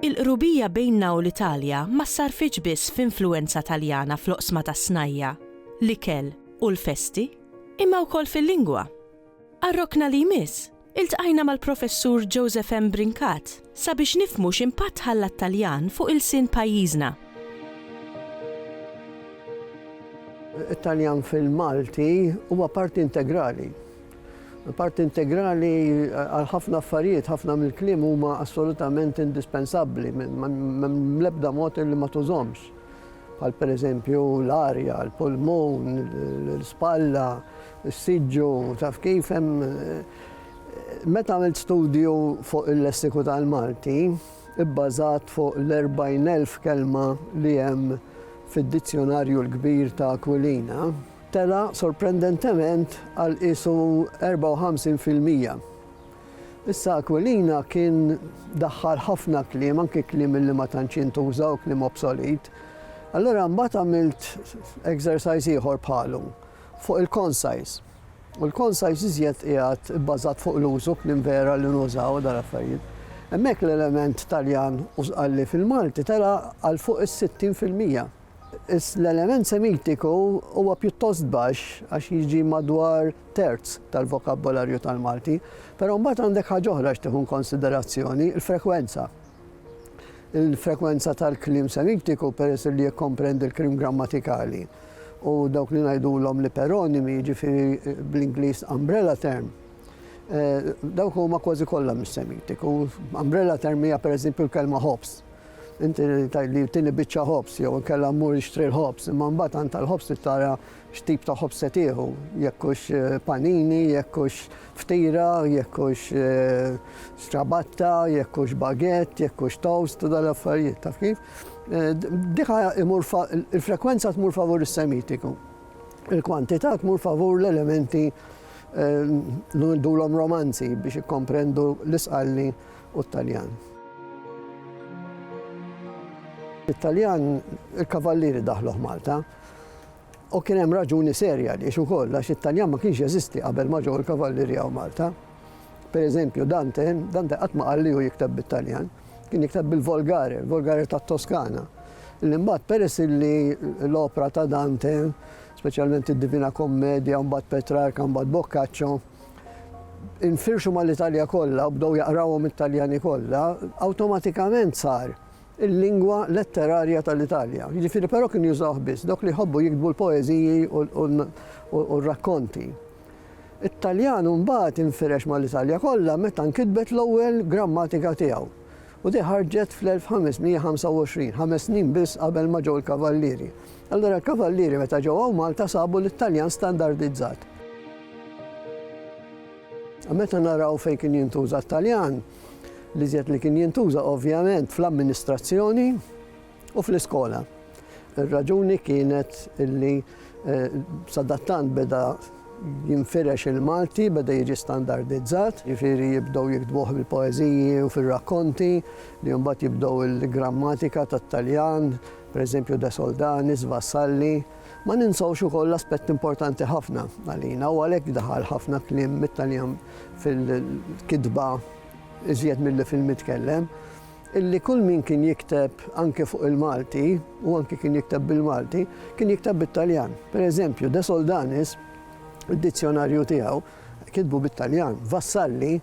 Il-qrubija bejnna u l-Italja ma ssarrfitx biss f'influwenza Taljana fl-oqsma tas-snajja', l-ikel u l-festi, imma wkoll fil-lingwa. Għar-rokna li jmiss, Iltqajna mal-Professur Joseph M. Brincat sabiex nifhmu x'impatt ħalla t-Taljan fuq ilsien pajjiżna. It-Taljan fil-Malti huwa parti integrali. Parti integrali għal ħafna affarijiet, ħafna mill-kliem huma assolutament indispensabbli, m'hemm l-ebda mod li ma tużhomx. Bħal pereżempju l-arja, l-pulmun, l-spalla, Is-siġġu, taf kif, hemm Meta għamilt studju fuq il-lessiku tal-Malti, ibbażat fuq l-40,000 kelma li hemm fid-Dizzjonarju l-Kbir ta' Aquilina, tela' sorprendentement għal qiesu 54 fil-mija. Issa Aquilina kien daħħal ħafna kliem, anki kliem li ma tantx jintuża u kliem obsolit. Allura mbagħad għamilt exercise ieħor bħalu. fuq il-conscious. U l-conscious iżjed qiegħed ibbażat fuq l-użu kliem vera li nużaw u dal-affarijiet. Hemmhekk l-element Taljan u Sqalli fil-Malti tela' għal fuq is-60 fil-mija. Iss l-element Semitiku huwa pjuttost baxx għax jiġi madwar terz tal-vokabbolarju tal-Malti. Però mbagħad għandek ħaġa oħra x'tieħu inkonsiderazzjoni, il-frekwenza. Il-frekwenza tal-kliem semittiku, peress li jikkomprendi l-kliem grammatikali u dawk li ngħidulhom l-iperonimi, jiġifieri bl-Ingliż umbrella term, eh, dawk huma kważi kollha mis-semittiku. Umbrella term hija pereżempju l-kelma ħobs inti li tini biċċa ħobs, jew kella mmur ixtri l-ħobs, imma mbagħad għand tal-ħobs tara X'tip ta' ħobż se tieħu, jekk hux panini, jekk hux ftira, jekk hux strabatta, jekk hux baguette, jekk hux toast u dal-affarijiet, taf kif? Diħa imur il-frekwenza tmur favur is-semitiku. Il-kwantità tmur favur l-elementi l-dulom romanzi biex ikkomprendu l-isqalli u t-Taljan. It-Taljan, il-kavallieri daħluh Malta. U kien hemm raġuni serja għaliex ukoll għax it-Taljan ma kienx jeżisti qabel ma ġew il-Kavallerija u Malta. Pereżempju, Dante, Dante qatt ma qal li hu jikteb bit-Taljan, kien jikteb bil-Volgare, il-Volgare tat-Toskana. Li mbagħad peress li l-opra ta' Dante, speċjalment id-Divina Kommedja, mbagħad Petrarka, mbagħad Boccaccio, infirxu mal-Italja kollha u bdew jaqrawhom it-Taljani kollha, awtomatikament sar il-lingwa letterarja tal-Italja. Jiġifieri però kienu jużawh biss dawk li jħobbu jiktbu l-poeżiji u r-rakkonti. It-Taljan mbagħad infirex mal-Italja kollha meta nkitbet l-ewwel grammatika tiegħu, u di ħarġet fl-1525, ħames snin biss qabel ma ġew il-Kavallieri. Allura l-Kavallieri meta ġew hawn Malta sabu lit-Taljan standardizzat. Meta naraw fejn kien jintuża t-Taljan, L-iżjed li kien jintuża ovvjament fl-amministrazzjoni u fl-iskola. Ir-raġuni kienet illi eh, sadattant beda jinfirex il-Malti, beda jiġi standardizzat, jifieri jibdew jiktbuh bil-poeżiji u fil-rakkonti, li mbagħad jibdew il-grammatika tat-Taljan, pereżempju De Soldanis, Vassalli, Ma ninsewx ukoll aspett importanti ħafna għalina u għalhekk daħal ħafna kliem mit-Taljan fil-kitba iżjed milli fil-mitkellem, illi kull min kien jikteb anke fuq il-Malti u anke kien jikteb bil-Malti, kien jikteb bit-Taljan. Per eżempju, De Soldanis, id-dizzjonarju tiegħu, kitbu bit-Taljan. Vassalli,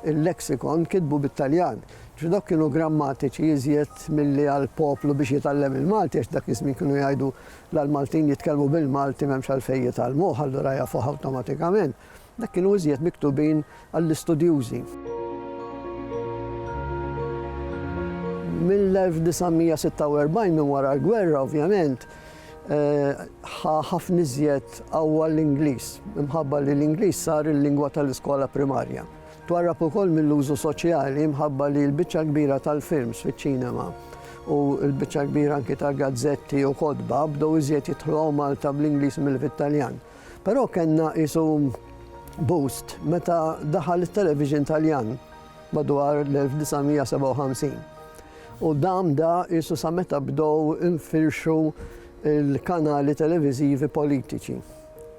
il-Lexicon kitbu bit-Taljan. Ġudok kienu grammatiċi iżjed milli għal poplu biex jitgħallem il-Malti għax dak iż-żmien kienu jgħidu la l-Maltin jitkellmu bil-Malti m'hemmx għalfejn jitgħallmuh allura jafuh awtomatikament. Dak kienu iżjed miktubin għall-istudjużi. Mill-1946 minn wara l-gwerra ovvjament, ħa ħafna iżjed qawwa l-Ingliż, imħabba li l-Ingliż sar il-lingwa tal-iskola primarja. Twarrab ukoll mill-użu soċjali imħabba li l-biċċa kbira tal-films fiċ-ċinema u l-biċċa kbira anki ta' gazzetti u kotba bdew iżjed jidħlu Malta bl-Ingliż mill fit-Taljan. Però kellna isu boost meta daħal it-television Taljan. madwar l-1957. U dam da isu sa meta bdow infirxu l-kanali televiżivi politiċi.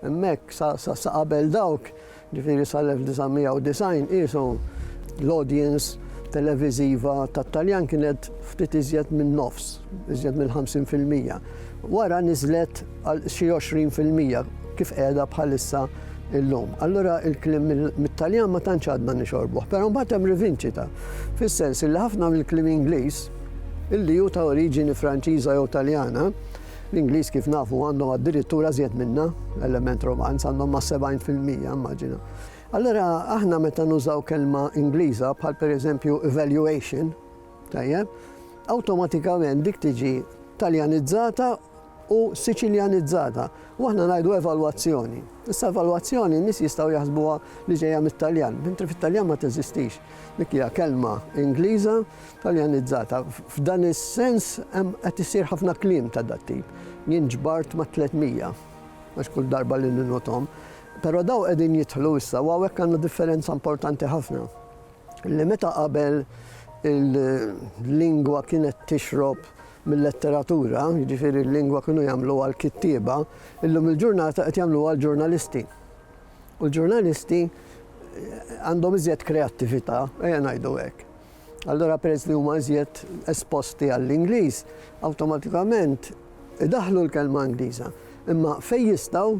Hemmhekk sa qabel dawk, ġifieri sal-1990 isu l-audience televiżiva tat-Taljan kienet ftit iżjed minn nofs, iżjed mill-50 fil-mija. Wara niżlet għal xi 20 fil-mija kif qiegħda bħalissa illum. Allura il-klim mit-Taljan ma tantx għadna nixorbuh, però mbagħad hemm rivinċita, fis-sens li ħafna mill-klim Ingliż illi hu ta' oriġini Franċiża jew Taljana, l-Ingliż kif nafu għandhom addirittura żjed minna, element romanz għandhom ma' 70 fil-mija, immaġina. Allura aħna meta nużaw kelma Ingliża bħal pereżempju evaluation, Tajjeb, awtomatikament dik tiġi Taljanizzata u Siċiljanizzata u aħna ngħidu evalwazzjoni. Issa evalwazzjoni n-nies jistgħu jaħsbuha li ġejja mit-Taljan, mentri fit-Taljan ma teżistix. Dik hija kelma Ingliża Taljanizzata. F'dan is-sens hemm qed isir ħafna kliem ta' dat tip. Jien ġbart ma' 300 għax kull darba li ninnotom. Però daw qegħdin jidħlu issa u hawnhekk għandna differenza importanti ħafna. li meta qabel il-lingwa kienet tixrob mill-letteratura, jiġifieri l-lingwa kienu jagħmlu għal kittieba, illum il-ġurnata qed jagħmlu għal ġurnalisti. U l-ġurnalisti għandhom iżjed kreattività, ejja ngħidu hekk. Allora peress li huma iżjed esposti għall-Ingliż, awtomatikament idaħlu l-kelma Ingliża. Imma fejn jistgħu